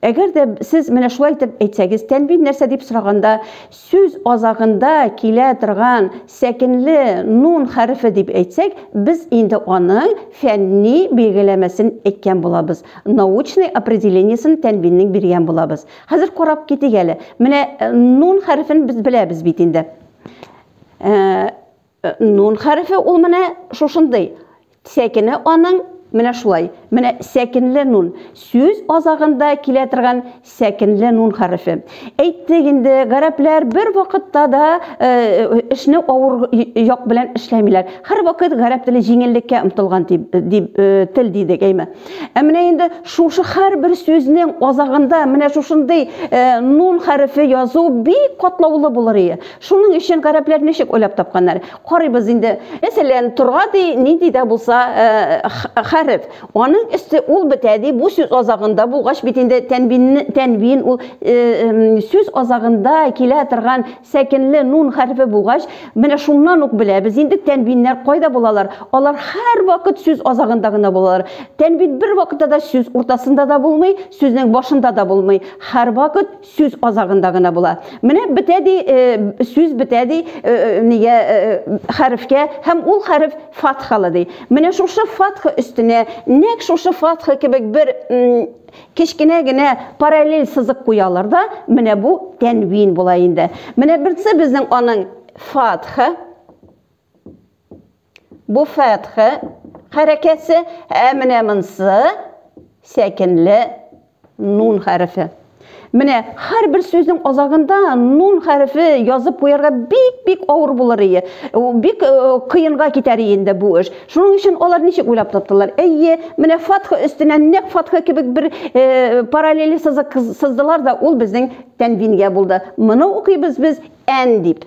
Әгәр дә сез менә шулай итеп әйтсәгез, тәнвин нәрсә дип сораганда, сүз азагында килә торган сәкенле нун хәрефе дип әйтсәк, без инде аның фәнни билгеләмәсен әйткән булабыз. Научный определениесен тәнвиннең биргән булабыз. Хәзер карап китик әле. Менә э, нун хәрефен без беләбез бит инде. Э, Э, нун хәрефе ул менә шушындый. Сәкене аның менә шулай. Менә сәкенле нун. Сүз азагында килә торган сәкенле нун хәрефе. Әйттек инде, гарәпләр бер вакытта да э, эшне авыр як белән эшләмиләр. Хәр вакыт гарәп теле җиңеллеккә омтылган дип, дип э, тел дидек, әйме. Ә менә инде шушы хәр бер сүзнең азагында менә шушындый э, нун хәрефе язу бик катлаулы булыр ие. Шуның өчен гарәпләр ничек уйлап тапканнар? Карыйбыз инде. Мәсәлән, торга ди, нинди дә булса хәреф. Аның өсте ул бетә ди, бу сүз азагында булгач бит инде тәнвинне, тәнвин ул сүз азагында килә торган сәкенле нун хәрефе булгач, менә шуннан ук беләбез инде тәнвиннәр кайда булалар. Алар һәрвакыт сүз азагында гына булалар. Тәнвин бервакытта да сүз уртасында да булмый, сүзнең башында да булмый. Һәрвакыт сүз азагында гына була. Менә бетә ди, э, сүз бетә ди, э, э, нигә хәрефкә һәм ул хәреф фатхалы ди. Менә шушы фатха өстенә нәк шушы фатха кебек бер кечкенә генә параллель сызык куялар да, менә бу тәнвин була инде. Менә берсе безнең аның фатха Бу фәтхә хәрәкәсе, ә менә монсы сәкенле нун хәрефе. Менә һәрбер сүзнең азагында нун хәрефе язып куярга бик-бик авыр булыр ие. Бик э, кыенга китәр ие инде бу эш. Шуның өчен алар ничек уйлап таптылар? Әйе, менә фатха өстенә нәк фатха кебек бер э, параллели сызык сыздылар да, ул безнең тәнвингә булды. Моны укыйбыз без ән дип.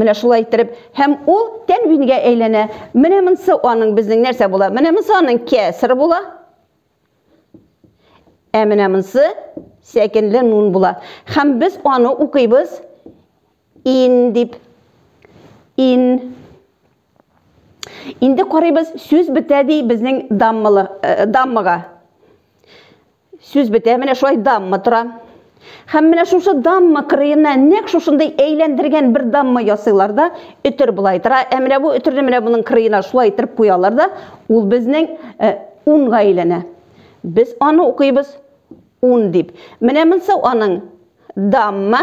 Менә шулай иттереп, һәм ул тәнвингә әйләнә. Менә монсы аның безнең нәрсә була? Менә монсы аның кәср була. Ә менә монсы сәкенле нун була. Һәм без аны укыйбыз ин дип. Ин. Инде карыйбыз, сүз бетә ди безнең даммыга. Сүз бетә, менә шулай дамма тора. Һәм менә шушы дамма кырыена нәк шушындый әйләндергән бер дамма ясыйлар да, өтер болай тора. Ә менә бу өтерне менә моның кырыена шулай иттереп куялар да, ул безнең э, унга әйләнә. Без аны укыйбыз ун дип. Менә монсы аның дамма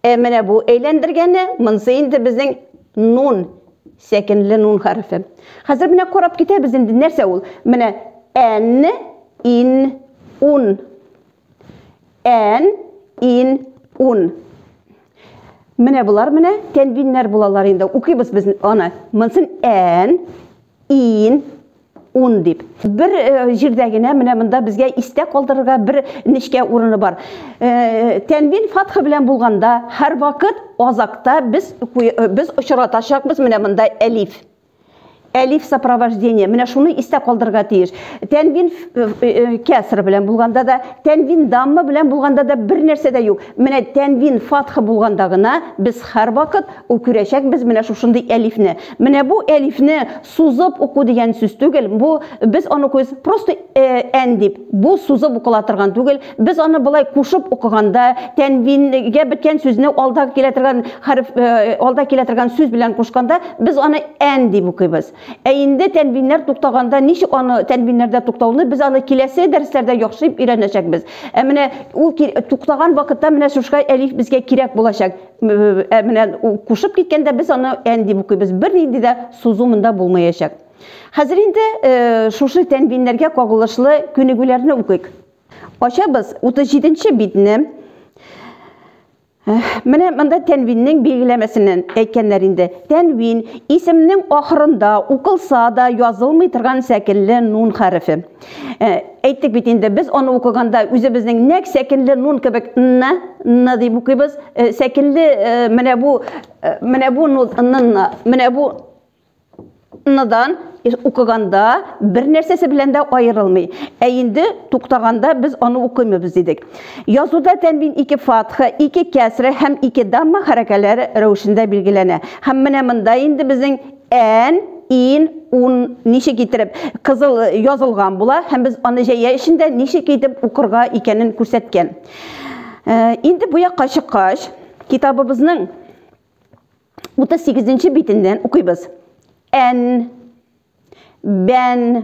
Ә менә бу әйләндергәне, монсы инде безнең нун, сәкенле нун хәрефе. Хәзер менә карап китәбез инде, нәрсә ул? Менә ән, ин, ун. Ән, ин, ун. Менә болар менә тәнвиннәр булалар инде. Укыйбыз без аны. Монсын ән, ин, ун дип. Бер э, җирдә генә менә монда безгә истә калдырырга бер нечкә урыны бар. Э, тәнвин фатхы белән булганда һәр вакыт азакта без э, без очратачакбыз менә монда әлиф. Әлиф сопровождение. Менә шуны истә калдырырга тиеш. Тәнвин кәср белән булганда да, тәнвин дамма белән булганда да бер нәрсә дә юк. Менә тәнвин фатхы булганда гына без һәр вакыт үкүрәчәкбез менә шушындый әлифне. Менә бу әлифне Сузып уку дигән сүз түгел, бу без аны күз просто ән дип, бу сузып укыла торган түгел, без аны болай кушып укыганда, тәнвингә беткән сүзне алда килә торган хәреф, алда килә торган сүз белән кушканда, без аны ән дип укыйбыз. Ә инде тәнвиннәр туктаганда ничек аны тәнвиннәрдә туктауны без аны киләсе дәресләрдә яхшырып өйрәнәчәкбез. Ә менә ул туктаган вакытта менә шушка әлиф безгә кирәк булачак. Ә менә кушып киткәндә без аны ән дип укыйбыз. Бернинди дә сузу монда булмаячак. Хәзер инде э, шушы тәнвиннәргә кагылышлы күнегүләрне укыйк. Ачабыз 37 нче битне. Менә монда тәнвиннең билгеләмәсеннән әйткәннәр инде. Тәнвин исемнең ахырында укылса да язылмый торган сәкенле нун хәрефе. Ә, әйттек бит инде, без аны укыганда үзебезнең нәк сәкенле нун кебек н н дип укыйбыз. Э, сәкенле э, менә бу э, менә бу нун н менә бу ныдан укыганда бер нәрсәсе белән дә аерылмый. Ә инде туктаганда без аны укымыйбыз дидек. Язуда тәнвин ике фатха, ике кәсре һәм ике дамма хәрәкәләре рәвешендә билгеләнә. Һәм менә монда инде безнең Ән, ин, ун ничек итеп кызыл язылган була һәм без аны җәя эчендә ничек итеп укырга икәнен күрсәткән. Инде бу якка чыккач, китабыбызның 38 нче битеннән укыйбыз. Ән, бән,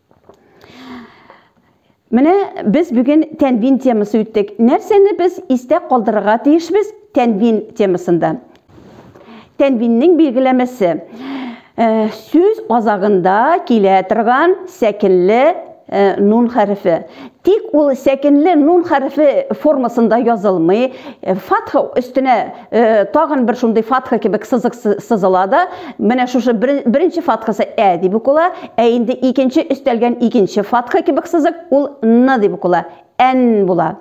Менә без бүген тәнвин темасы үттек. Нәрсәне без истә калдырырга тиешбез тәнвин темасында? Тәнвиннең билгеләмәсе. Э, сүз азагында килә торган сәкенле э, нун хәрефе. Тик ул сәкенле нун хәрефе формасында язылмый. Э, фатха өстенә Э, тагын бер шундый фатха кебек сызык сызыла да менә шушы беренче фатхасы ә дип укыла ә инде икенче өстәлгән икенче фатха кебек сызык ул н дип укыла ән була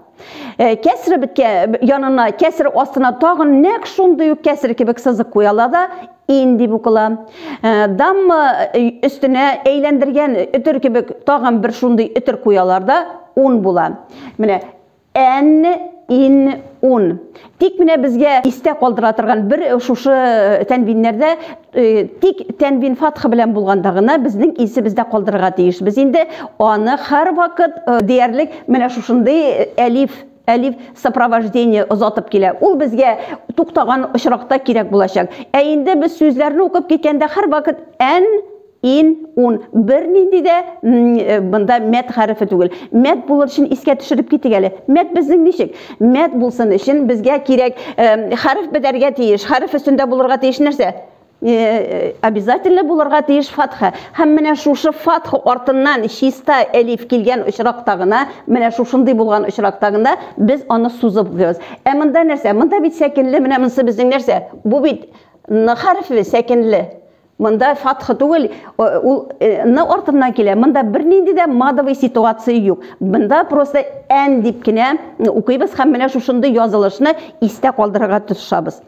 э, кәсре биткә янына кәсре астына тагын нәкъ шундый ук кәсре кебек сызык куяла да ин дип укыла э, дамма өстенә әйләндергән өтер кебек тагын бер шундый өтер куялар да ун була менә Н, ин, ун. Тик менә безгә истә калдыра торган бер шушы э, тәнвиннәрдә э, тик тәнвин фатха белән булганда гына безнең исебездә калдырырга тиеш. Без инде аны һәрвакыт э, диярлек менә шушындый әлиф әлиф сопровождение озатып килә. Ул безгә туктаган очракта кирәк булачак. Ә инде без сүзләрне укып киткәндә һәрвакыт ән ин, ун. Бернинди дә э, монда мәт хәрефе түгел. Мәт булыр өчен искә төшереп китик әле. Мәт безнең ничек? Мәт булсын өчен безгә кирәк э, хәреф бетәргә тиеш. Хәреф өстендә булырга тиеш нәрсә? Э, обязательно булырга тиеш фатха. Һәм менә шушы фатха артыннан чиста элиф килгән очракта гына, менә шушындый булган очракта гына без аны сузып укыйбыз. Ә монда нәрсә? Монда бит сәкенле, менә монысы безнең нәрсә? Бу бит хәрефе сәкенле. Монда фатха түгел, ул ны артыннан килә. Монда бернинди дә мадовый ситуация юк. Монда просто ән дип кенә укыйбыз һәм менә шушындый язылышны истә калдырырга тырышабыз.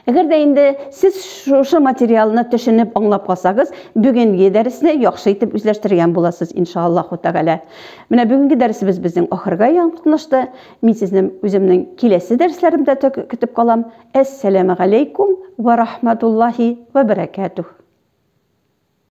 Әгәр дә инде сез шушы материалны төшенеп аңлап калсагыз, бүгенге дәресне яхшы итеп үзләштергән буласыз, иншаллаху тәгалә. Менә бүгенге дәресебез безнең ахырга якынлашты. Мин сезне үземнең киләсе дәресләремдә көтеп калам. Әссәләмегаләйкүм вә рахматуллаһи вә бәрәкәтүһ.